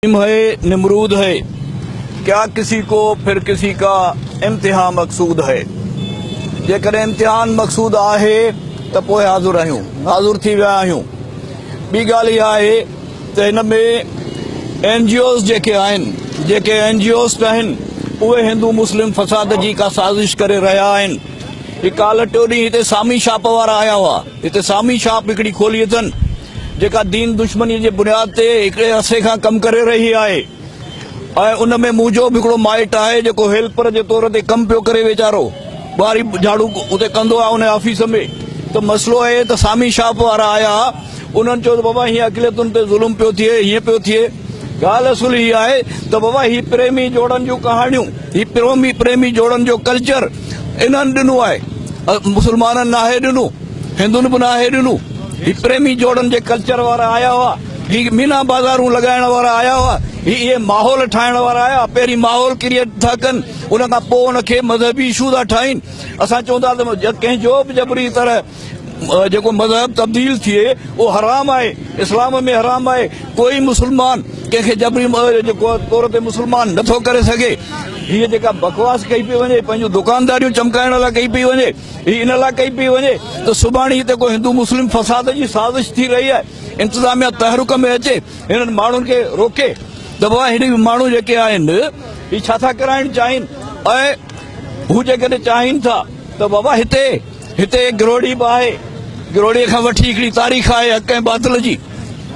نيم هي نمرود هي، ڪيا ڪسي ڪو ڦر ڪسي ڪا امتحان مقصود هي. جيڪڏهن امتحان مقصود آهي ته پوء حاضر آهيون، حاضر ٿي ويا آهيون. ٻي ڳالهه اها آهي ته هن ۾ اين جي اوز جيڪي آهن، جيڪي اين جي اوسٽ آهن، اهي هندو مسلم فساد جي ڪا سازش ڪري رهيا آهن. هي ڪالهه ٽيون ڏينهن هتي سامي شاپ وارا آيا هئا، هتي سامي شاپ هڪڙي کولي اٿن. جيڪا دين دشمنيء جي بنياد تي هڪڙي عرصي کان ڪم ڪري رهي آهي ۽ ان ۾ مون جو به هڪڙو مائٽ آهي جيڪو هيلپر جي طور تي ڪم پيو ڪري ويچارو ٻهاري جهاڙو اتي ڪندو آهي ان آفيس ۾ ته مسئلو اهي ته سامي شاپ وارا آيا انهن چيو ته بابا هيئن اقليتن تي ظلم پيو ٿئي هيئن پيو ٿئي ڳالهه اصل هي آهي ته بابا هي پريمي جوڙن جون ڪهاڻيون هي پريمي پريمي جوڙن جو ڪلچر انهن ڏنو آهي مسلمانن ناهي ڏنو هندن به ناهي ڏنو هي پريمي جوڙن جي ڪلچر وارا آيا هئا هي مينا بازارون لڳائڻ وارا آيا هئا هي اهي ماحول ٺاهڻ وارا آيا پهرين ماحول ڪريئيٽ ٿا ڪن ان کان پوء ان کي مذهبي اشو ٿا ٺاهين اسان چون ٿا ته ڪنهن جو به جبري طرح جيڪو مذهب تبديل ٿئي اهو حرام آهي اسلام ۾ حرام آهي ڪوئي مسلمان ڪنهن کي جبري جيڪو طور تي مسلمان نه ٿو ڪري سگهي هي جيڪا بڪواس ڪئي پئي وڃي پنهنجو دڪانداريون چمڪائڻ لاء ڪئي پئي وڃي هي ان لاء ڪئي پئي وڃي ته سڀاڻي هتي ڪو هندو مسلم فساد جي سازش ٿي رهي آهي انتظاميا تحرڪ ۾ اچي هنن ماڻهن کي روڪي ته بابا هي ماڻهو جيڪي آهن هي ڇا ٿا ڪرائڻ چاهين ۽ هو جيڪڏهن چاهين ٿا ته بابا هتي هتي گروڙي به آهي. گروڙي کان وٺي هڪڙي تاريخ آهي حق ۽ باطل جي.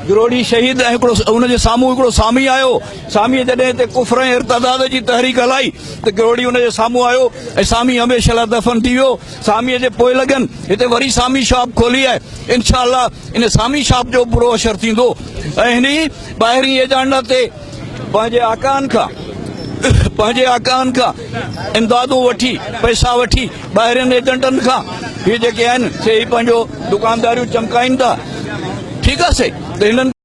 گروڙي شهيد ۽ هڪڙو ان جي سامهون هڪڙو سامي آيو. ساميء جڏهن هتي ڪفر ۽ ارتداد جي تحريڪ هلائي ته گروڙي ان جي سامهون آيو ۽ سامي هميشه لاء دفن ٿي ويو. ساميء جي پوئلڳن هتي وري سامي شاپ کولي آهي. انشاء الله ان سامي شاپ جو به برو حشر ٿيندو ۽ هن ئي ٻاهرين ايجنڊا تي پنهنجي آقائن کان پنهنجي آقائن کان امدادون وٺي پئسا وٺي ٻاهرين ايجنٽن کان هي جيڪي آهن سي هي پنهنجو دڪانداريون چمڪائين ٿا ٺيڪ آهي سائين ته هنن